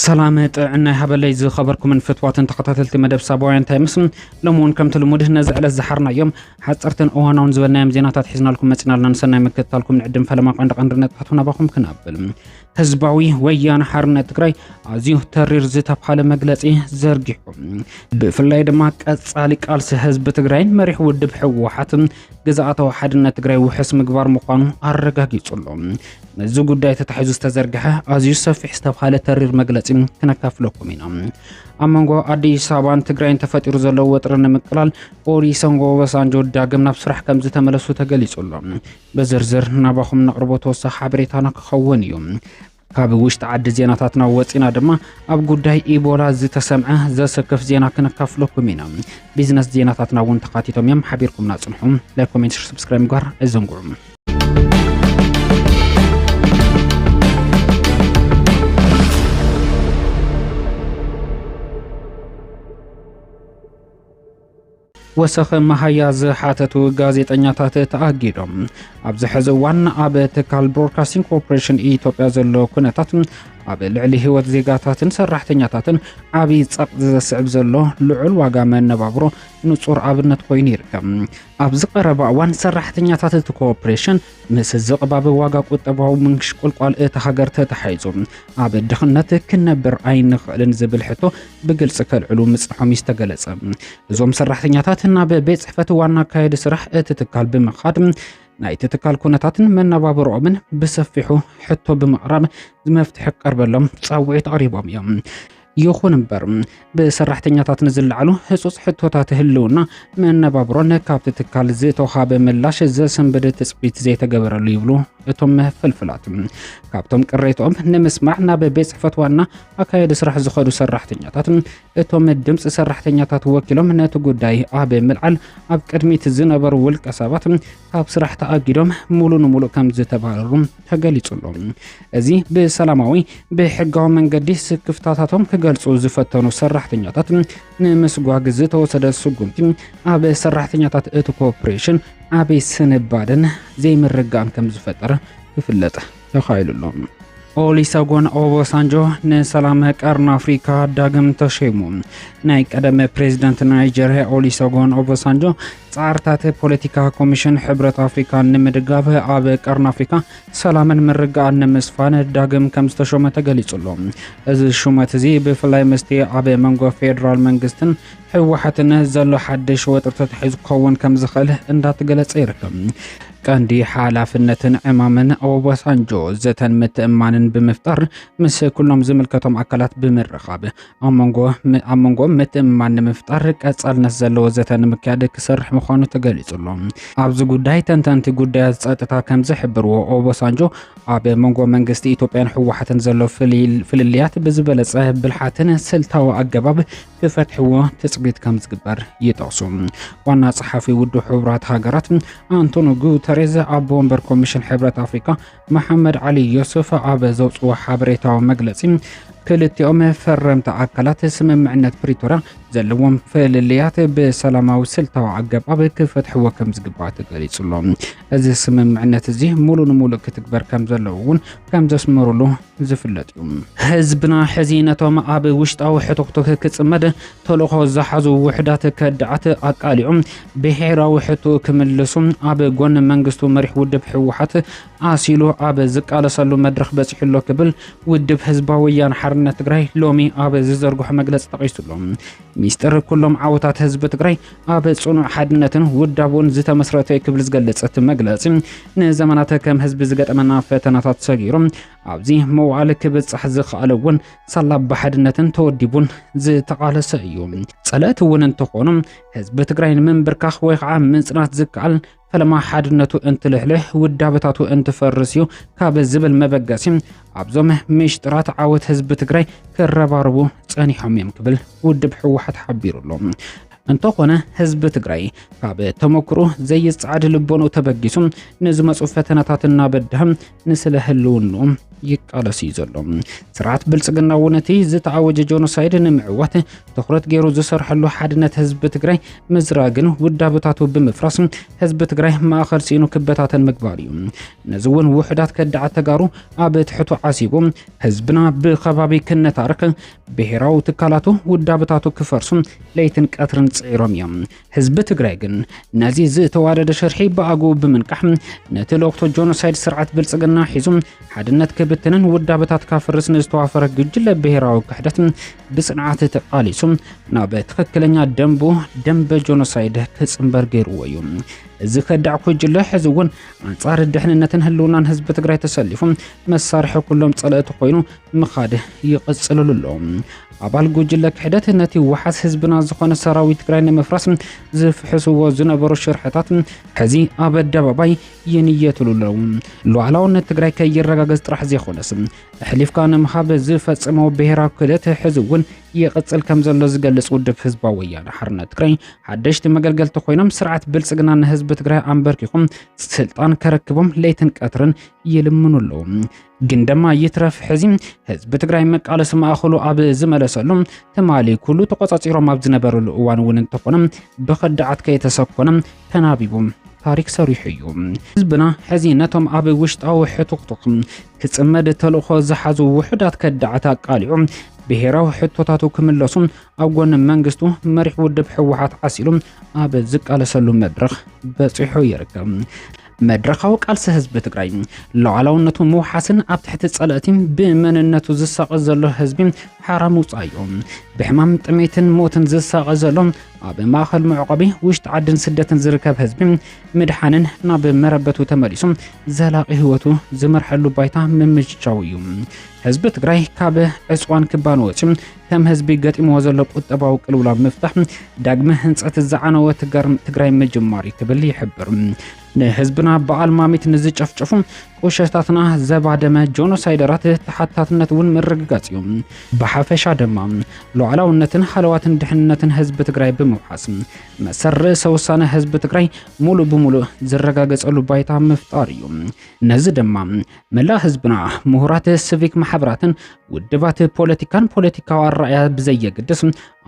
ሰላም ጥዕና ይሃበለይ ዝኸበርኩምን ፍትዋትን ተኸታተልቲ መደብ ሳባውያን ታይምስ ሎሚ እውን ከምቲ ልሙድ ነዚ ዕለት ዝሓርናዮም ሓፀርትን እዋናውን ዝበልናዮም ዜናታት ሒዝናልኩም መፂና ኣለና ንሰናይ ምክትታልኩም ንዕድም ፈለማ ቀንዲ ቀንዲ ነጥባቱ ናባኹም ክናብል ህዝባዊ ወያነ ሓርነት ትግራይ ኣዝዩ ተሪር ዝተብሃለ መግለጺ ዘርጊሑ ብፍላይ ድማ ቀጻሊ ቃልሲ ህዝቢ ትግራይን መሪሕ ውድብ ህወሓትን ግዝኣታዊ ሓድነት ትግራይ ውሕስ ምግባር ምዃኑ ኣረጋጊጹ ኣሎ። ነዚ ጉዳይ ተታሒዙ ዝተዘርግሐ ኣዝዩ ሰፊሕ ዝተብሃለ ተሪር መግለጺ ክነካፍለኩም ኢና። ኣብ መንጎ ኣዲስ ኣበባን ትግራይን ተፈጢሩ ዘሎ ወጥሪ ንምቅላል ኦሪ ሰንጎ ወሳንጆ ዳግም ናብ ስራሕ ከም ዝተመለሱ ተገሊጹ ኣሎ። ብዝርዝር ናባኹም ነቕርቦ ተወሳኺ ሓበሬታና ክኸውን እዩ። ካብ ውሽጢ ዓዲ ዜናታትና ወፂና ድማ ኣብ ጉዳይ ኢቦላ ዝተሰምዐ ዘሰክፍ ዜና ክንካፍለኩም ኢና። ቢዝነስ ዜናታትና እውን ተካቲቶም እዮም። ሓቢርኩምና ፅንሑ። ላይክ፣ ኮሜንት፣ ሸር፣ ሰብስክራይብ ምግባር ኣይዘንግዑ። ወሰኽ መሃያ ዝሓተቱ ጋዜጠኛታት ተኣጊዶም። ኣብዚ ሕዚ እዋን ኣብ ትካል ብሮድካስቲንግ ኮርፖሬሽን ኢትዮጵያ ዘሎ ኩነታት ኣብ ልዕሊ ህይወት ዜጋታትን ሰራሕተኛታትን ዓብዪ ጸቕ ዘስዕብ ዘሎ ልዑል ዋጋ መነባብሮ ንጹር ኣብነት ኮይኑ ይርከብ። ኣብዚ ቀረባ እዋን ሰራሕተኛታት እቲ ኮርፖሬሽን ምስ ዝቕባበ ዋጋ ቁጠባዊ ምንሽቁልቋል እታ ሃገር ተተሓሒዙ ኣብ ድኽነት ክንነብር ኣይንኽእልን ዝብል ሕቶ ብግልፂ ከልዕሉ ምፅንሖም እዩ ዝተገለፀ። እዞም ሰራሕተኛታት ናብ ቤት ፅሕፈት ዋና ኣካየዲ ስራሕ እቲ ትካል ብምኻድ ናይቲ ትካል ኩነታትን መነባብሮኦምን ብሰፊሑ ሕቶ ብምቕራብ መፍትሒ ክቀርበሎም ፃውዒት ኣቕሪቦም እዮም። ይኹን እምበር ብሰራሕተኛታት ንዝለዓሉ ህጹጽ ሕቶታት ህልውና መነባብሮን ካብቲ ትካል ዝተውሃበ ምላሽ ዘሰንብድ ትጽቢት ዘይተገበረሉ ይብሉ እቶም ፍልፍላት። ካብቶም ቅሬትኦም ንምስማዕ ናብ ቤት ጽሕፈት ዋና ኣካየዲ ስራሕ ዝኸዱ ሰራሕተኛታት እቶም ድምፂ ሰራሕተኛታት ወኪሎም ነቲ ጉዳይ ኣብ ምልዓል ኣብ ቅድሚት ዝነበሩ ውልቀ ሰባት ካብ ስራሕ ተኣጊዶም ሙሉ ንሙሉእ ከም ዝተባረሩ ተገሊጹ'ሎ። እዚ ብሰላማዊ ብሕጋዊ መንገዲ ስክፍታታቶም ክገልጹ ዝፈተኑ ሰራሕተኛታት ንምስጓግ ዝተወሰደ ስጉምቲ ኣብ ሰራሕተኛታት እቲ ኮርፖሬሽን ዓብይ ስንባደን ዘይምርጋን ከም ዝፈጠረ ክፍለጥ ተኻኢሉ'ሎ። ኦሊሰጎን ኦቦሳንጆ ንሰላም ቀርኒ ኣፍሪካ ዳግም ተሸይሙ። ናይ ቀደመ ፕሬዚደንት ናይጀርያ ኦሊሰጎን ኦቦሳንጆ ጻዕርታት ፖለቲካ ኮሚሽን ሕብረት ኣፍሪካ ንምድጋፍ ኣብ ቀርኒ ኣፍሪካ ሰላምን ምርግኣን ንምስፋን ዳግም ከም ዝተሾመ ተገሊጹ ኣሎ። እዚ ሹመት እዚ ብፍላይ ምስቲ ኣብ መንጎ ፌዴራል መንግስትን ህወሓትን ዘሎ ሓድሽ ወጥሪ ተታሒዙ ክኸውን ከም ዝኽእል እንዳተገለጸ ይርከብ። ቀንዲ ሓላፍነትን ዕማምን ኦባሳንጆ ዘተን ምትእማንን ብምፍጣር ምስ ኩሎም ዝምልከቶም ኣካላት ብምርኻብ ኣብ መንጎ ምትእምማን ንምፍጣር ቀጻልነት ዘለዎ ዘተ ንምክያድ ክሰርሕ ምዃኑ ተገሊጹ ኣሎ። ኣብዚ ጉዳይ ተንተንቲ ጉዳያት ጸጥታ ከም ዝሕብርዎ ኦቦሳንጆ ኣብ መንጎ መንግስቲ ኢትዮጵያን ህወሓትን ዘሎ ፍልልያት ብዝበለጸ ብልሓትን ስልታዊ ኣገባብ ክፈትሕዎ ትጽቢት ከም ዝግበር ይጠቕሱ። ዋና ጸሓፊ ውድብ ሕቡራት ሃገራት ኣንቶኒ ጉተሬዝ ኣቦ ወንበር ኮሚሽን ሕብረት ኣፍሪካ መሓመድ ዓሊ ዮሱፍ ኣብ ዘውፅዎ ሓበሬታዊ መግለፂ ክልቲኦም ፈረምቲ ኣካላት ስምምዕነት ፕሪቶርያ ዘለዎም ፍልልያት ብሰላማዊ ስልታዊ ኣገባብ ክፈትሕዎ ከም ዝግባእ ተገሊጹ ኣሎ። እዚ ስምምዕነት እዚ ሙሉ ንሙሉእ ክትግበር ከም ዘለዎ እውን ከም ዘስመሩሉ ዝፍለጥ እዩ። ህዝብና ሕዚ ነቶም ኣብ ውሽጣዊ ሕቱኽቱኽ ክጽመድ ተልእኾ ዝሓዙ ውሑዳት ከዳዓት ኣቃሊዑ ብሄራዊ ሕቶኡ ክምልሱ ኣብ ጎኒ መንግስቱ መሪሕ ውድብ ህወሓት ኣሲሉ ኣብ ዝቃለሰሉ መድረኽ በጺሑ ኣሎ ክብል ውድብ ህዝባዊ ወያነ ሓርነት ትግራይ ሎሚ ኣብ ዝዘርግሖ መግለጺ ጠቒሱ ኣሎ። ሚስጥር ኩሎም ዓወታት ህዝቢ ትግራይ ኣብ ጽኑዕ ሓድነትን ውዳቦን ዝተመስረተ እዩ ክብል ዝገለጸ እቲ መግለጺ ንዘመናት ከም ህዝቢ ዝገጠመና ፈተናታት ሰጊሩ ኣብዚ መዋዕል ክብጻሕ ዝኸኣለ እውን ሳላ ብሓድነትን ተወዲቡን ዝተቓለሰ እዩ። ጸለእቲ እውን እንተኾኑ ህዝቢ ትግራይ ንምንብርካኽ ወይ ከዓ ምጽናት ዝከኣል ፈለማ ሓድነቱ እንትልሕልሕ ውዳበታቱ እንትፈርስ እዩ ካብ ዝብል መበገሲ ኣብዞም ምሽጥራት ዓወት ህዝቢ ትግራይ ክረባረቡ ጸኒሖም እዮም ክብል ውድብ ህወሓት ሓቢሩ ኣሎ። እንተኾነ ህዝቢ ትግራይ ካብ ተመክሮ ዘይጸዓድ ልቦኑ ተበጊሱ ንዝመፁ ፈተናታት እናበድህም ንስለ ህልውንኡ ይቃለስ እዩ ዘሎ ስርዓት ብልፅግና እውን እቲ ዝተኣወጀ ጆኖሳይድ ንምዕዋት ትኩረት ገይሩ ዝሰርሐሉ ሓድነት ህዝቢ ትግራይ ምዝራግን ውዳበታቱ ብምፍራስ ህዝቢ ትግራይ ማእኸል ሲኢኑ ክበታተን ምግባር እዩ ነዚ እውን ውሕዳት ከዳዓት ተጋሩ ኣብ ትሕቱ ዓሲቡ ህዝብና ብከባቢ ክነታርክ ብሄራዊ ትካላቱ ውዳበታቱ ክፈርሱ ለይትን ቀትርን ፅዒሮም እዮም ህዝቢ ትግራይ ግን ነዚ ዝተዋደደ ሽርሒ ብኣግኡ ብምንቃሕ ነቲ ልእኽቶ ጆኖሳይድ ስርዓት ብልጽግና ሒዙ ሓድነት ክብትንን ውዳበታት ካፍርስ ንዝተዋፈረ ግጅለ ብሔራዊ ክሕደት ብጽንዓት ተቓሊሱ ናብ ትኽክለኛ ደንቡ ደንበ ጆኖሳይድ ክጽምበር ገይርዎ እዩ። እዚ ከዳዕ ኩጅለ ሕዚ እውን ኣንጻር ድሕንነትን ህልውናን ህዝቢ ትግራይ ተሰሊፉ መሳርሒ ኩሎም ጸለእቲ ኮይኑ ምኻድ ይቕጽልሉ ኣሎ። ኣባል ጉጅለ ክሕደት ነቲ ዋሓስ ህዝብና ዝኾነ ሰራዊት ትግራይ ንምፍራስ ዝፍሕስዎ ዝነበሩ ሽርሕታት ሕዚ ኣብ ኣደባባይ ይንየትሉ ኣለዉ። ሉዓላውነት ትግራይ ከይረጋገጽ ጥራሕ ዘይኮነስ ኣሕሊፍካ ንምሃብ ዝፈጸመዎ ብሄራዊ ክህደት ሕዚ እውን ይቕጽል ከም ዘሎ ዝገልጽ ውድብ ህዝባዊ ወያነ ሓርነት ትግራይ ሓደሽቲ መገልገልቲ ኮይኖም ስርዓት ብልጽግና ንህዝቢ ትግራይ ኣንበርኪኹም ስልጣን ከረክቦም ለይትን ቀትርን ይልምኑ ኣለዉ። ግን ደማ ይትረፍ ሕዚ ህዝቢ ትግራይ መቃለሲ ማእኸሉ ኣብ ዝመለሰሉ ትማሊ ኩሉ ተቆፃፂሮም ኣብ ዝነበረሉ እዋን እውን እንተኾነ ብኸዳዓት ከየተሰኮነ ተናቢቡ ታሪክ ሰሪሑ እዩ ህዝብና ሕዚ ነቶም ኣብ ውሽጣዊ ሕቱኽቱኽ ክፅመድ ተልእኾ ዝሓዙ ውሑዳት ከዳዓት ኣቃሊዑ ብሄራዊ ሕቶታቱ ክምለሱ ኣብ ጎኒ መንግስቱ መሪሕ ውድብ ህወሓት ዓሲሉ ኣብ ዝቃለሰሉ መድረኽ በፂሑ ይርከብ መድረኻዊ ቃልሲ ህዝቢ ትግራይ ሉዓላውነቱ ምውሓስን ኣብ ትሕቲ ጸለእቲ ብመንነቱ ዝሳቐ ዘሎ ህዝቢ ሓራ ምውጻእዮ ብሕማም ጥሜትን ሞትን ዝሳቐ ዘሎ ኣብ ማእኸል መዕቆቢ ውሽጢ ዓድን ስደትን ዝርከብ ህዝቢ ምድሓንን ናብ መረበቱ ተመሊሱ ዘላቒ ህይወቱ ዝመርሐሉ ባይታ ምምችቻው እዩ ህዝቢ ትግራይ ካብ ዕፅዋን ክባን ወፂ ከም ህዝቢ ገጢምዎ ዘሎ ቁጠባዊ ቅልውላው ምፍታሕ ዳግመ ህንፀት ዝዓነወ ትግራይ ምጅማር እዩ ክብል ይሕብር። ንህዝብና በዓል ማሚት ንዝጨፍጨፉ ቁሸታትና ዘባደመ ጆኖሳይደራት ተሓታትነት እውን ምርግጋፅ እዩ። ብሓፈሻ ድማ ሉዓላውነትን ሃለዋትን ድሕንነትን ህዝቢ ትግራይ ብምውሓስ መሰል ርእሰ ውሳነ ህዝቢ ትግራይ ሙሉእ ብሙሉእ ዝረጋገፀሉ ባይታ ምፍጣር እዩ። ነዚ ድማ መላእ ህዝብና ምሁራት ስቪክ ማሕበራትን ውድባት ፖለቲካን ፖለቲካዊ ኣረኣያ ብዘየገድስ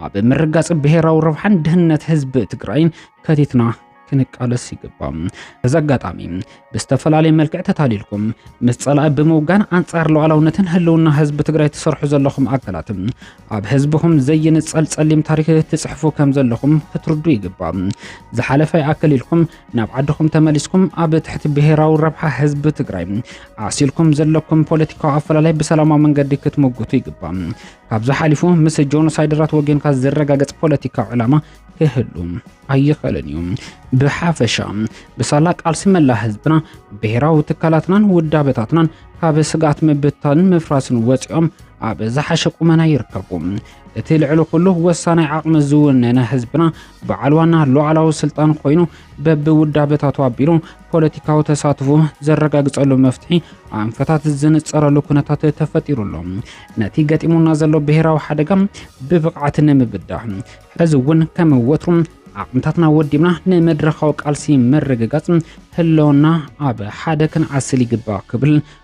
ኣብ ምርጋጽ ብሔራዊ ረብሓን ድህነት ህዝቢ ትግራይን ከቲትና ክንቃለስ ይግባም። እዚ ኣጋጣሚ ብዝተፈላለየ መልክዕ ተታሊልኩም ምስ ጸላኢ ብምውጋን ኣንጻር ሉዓላውነትን ህልውና ህዝቢ ትግራይ ትሰርሑ ዘለኹም ኣካላት ኣብ ህዝብኹም ዘይንጸል ጸሊም ታሪክ ትጽሕፉ ከም ዘለኹም ክትርዱ ይግባእ። ዝሓለፈ ይኣክል ኢልኩም ናብ ዓድኹም ተመሊስኩም ኣብ ትሕቲ ብሄራዊ ረብሓ ህዝቢ ትግራይ ዓሲልኩም ዘለኩም ፖለቲካዊ ኣፈላላይ ብሰላማዊ መንገዲ ክትምጉቱ ይግባእ። ካብዚ ሓሊፉ ምስ ጆኖሳይደራት ወገንካ ዝረጋገጽ ፖለቲካዊ ዕላማ ክህሉ ኣይኽእልን እዩ። ብሓፈሻ ብሳላ ቃልሲ መላ ህዝብና፣ ብሄራዊ ትካላትናን ውዳበታትናን ካብ ስግኣት ምብታንን ምፍራስን ወፂኦም ኣብ ዝሓሸ ቁመና ይርከቡ። እቲ ልዕሊ ኩሉ ወሳናይ ዓቕሚ ዝውነነ ህዝብና በዓል ዋና ሉዓላዊ ስልጣን ኮይኑ በብውዳበታቱ ኣቢሉ ፖለቲካዊ ተሳትፎ ዘረጋግጸሉ መፍትሒ ኣንፈታት ዝንጸረሉ ኩነታት ተፈጢሩ ኣሎ። ነቲ ገጢሙና ዘሎ ብሔራዊ ሓደጋ ብብቕዓት ንምብዳህ ሕዚ እውን ከም ወትሩ ዓቕምታትና ወዲብና ንመድረኻዊ ቃልሲ ምርግጋጽ ህለውና ኣብ ሓደ ክንዓስል ይግባእ ክብል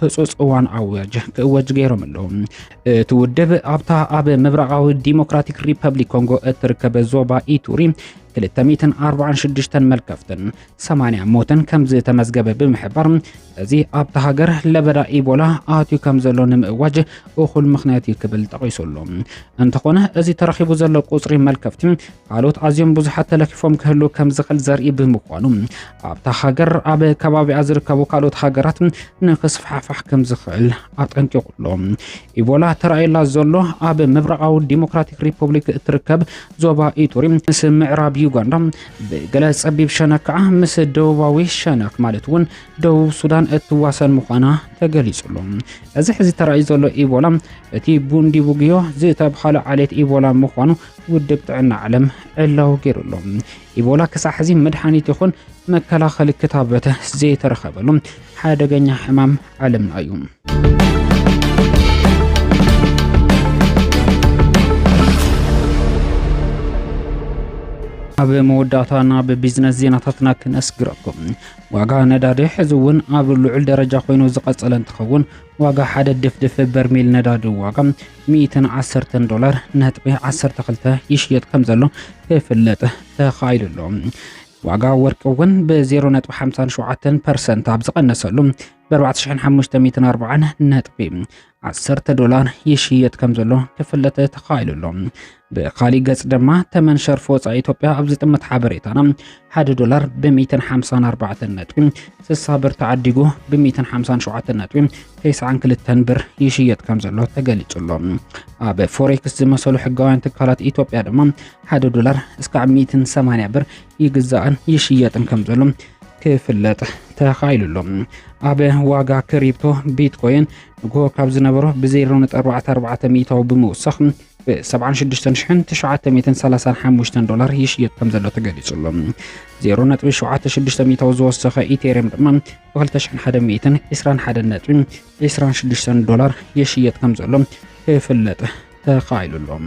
ህጹጽ እዋን ኣዋጅ ክእወጅ ገይሮም ኣለዉ። እቲ ውድብ ኣብታ ኣብ ምብራቓዊ ዲሞክራቲክ ሪፐብሊክ ኮንጎ እትርከብ ዞባ ኢቱሪ 246 መልከፍትን 80 ሞትን ከም ዝተመዝገበ ብምሕባር እዚ ኣብታ ሃገር ለበዳ ኢቦላ ኣትዩ ከም ዘሎ ንምእዋጅ እኹል ምክንያት እዩ ክብል ጠቒሱ ኣሎ። እንተኾነ እዚ ተረኺቡ ዘሎ ቁጽሪ መልከፍቲ ካልኦት ኣዝዮም ብዙሓት ተለኪፎም ክህሉ ከም ዝኽእል ዘርኢ ብምኳኑ ኣብታ ሃገር ኣብ ከባቢኣ ዝርከቡ ካልኦት ሃገራት ንክስፋሕፋሕ ከም ዝኽእል ኣጠንቂቑ ኣሎ። ኢቦላ ተራእየላ ዘሎ ኣብ ምብራቓዊ ዲሞክራቲክ ሪፐብሊክ እትርከብ ዞባ ኢቱሪ ምስ ምዕራብ ዩጋንዳ ብገለ ጸቢብ ሸነክ ከዓ ምስ ደቡባዊ ሸነክ ማለት እውን ደቡብ ሱዳን እትዋሰን ምዃና ተገሊጹ ኣሎ። እዚ ሕዚ ተራእዩ ዘሎ ኢቦላ እቲ ቡንዲ ቡግዮ ዝተብሃለ ዓሌት ኢቦላ ምዃኑ ውድብ ጥዕና ዓለም ዕላዊ ገይሩ ኣሎ። ኢቦላ ክሳዕ ሕዚ መድሓኒት ይኹን መከላኸሊ ክታበት ዘይተረኸበሉ ሓደገኛ ሕማም ዓለምና እዩ። ኣብ መወዳእታ ናብ ቢዝነስ ዜናታትና ክነስግረኩም ዋጋ ነዳዲ ሕዚ እውን ኣብ ልዑል ደረጃ ኮይኑ ዝቐጸለ እንትኸውን ዋጋ ሓደ ድፍድፍ በርሚል ነዳዲ ዋጋ ሚእትን ዓሰርተን ዶላር ነጥቢ ዓሰርተ ክልተ ይሽየጥ ከም ዘሎ ክፍለጥ ተኻኢሉ ኣሎ። ዋጋ ወርቂ እውን ብ0.57 ፐርሰንት ኣብ ዝቐነሰሉ ብ4540 ነጥቢ 10 ዶላር ይሽየጥ ከም ዘሎ ክፍለጥ ተኻኢሉ ኣሎ። ብኻሊእ ገጽ ድማ ተመን ሸርፊ ወጻኢ ኢትዮጵያ ኣብ ዝጥምት ሓበሬታና ሓደ ዶላር ብ154 ነጥቢ 60 ብር ተዓዲጉ ብ157 ነጥቢ 92 ብር ይሽየጥ ከም ዘሎ ተገሊጹ ኣሎ። ኣብ ፎሬክስ ዝመሰሉ ሕጋውያን ትካላት ኢትዮጵያ ድማ ሓደ ዶላር እስካዕ 180 ብር ይግዛእን ይሽየጥን ከም ዘሎ ክፍለጥ ተኻኢሉ ኣሎ። ኣብ ዋጋ ክሪፕቶ ቢትኮይን ንግሆ ካብ ዝነበሮ ብ0.44 ሚእታዊ ብምውሳኽ ብ76935 ዶላር ይሽየጥ ከም ዘሎ ተገሊጹ ኣሎ። 0.76 ሚእታዊ ዝወሰኸ ኢቴሪየም ድማ ብ2121.26 ዶላር ይሽየጥ ከም ዘሎ ክፍለጥ ተኻኢሉ ኣሎ።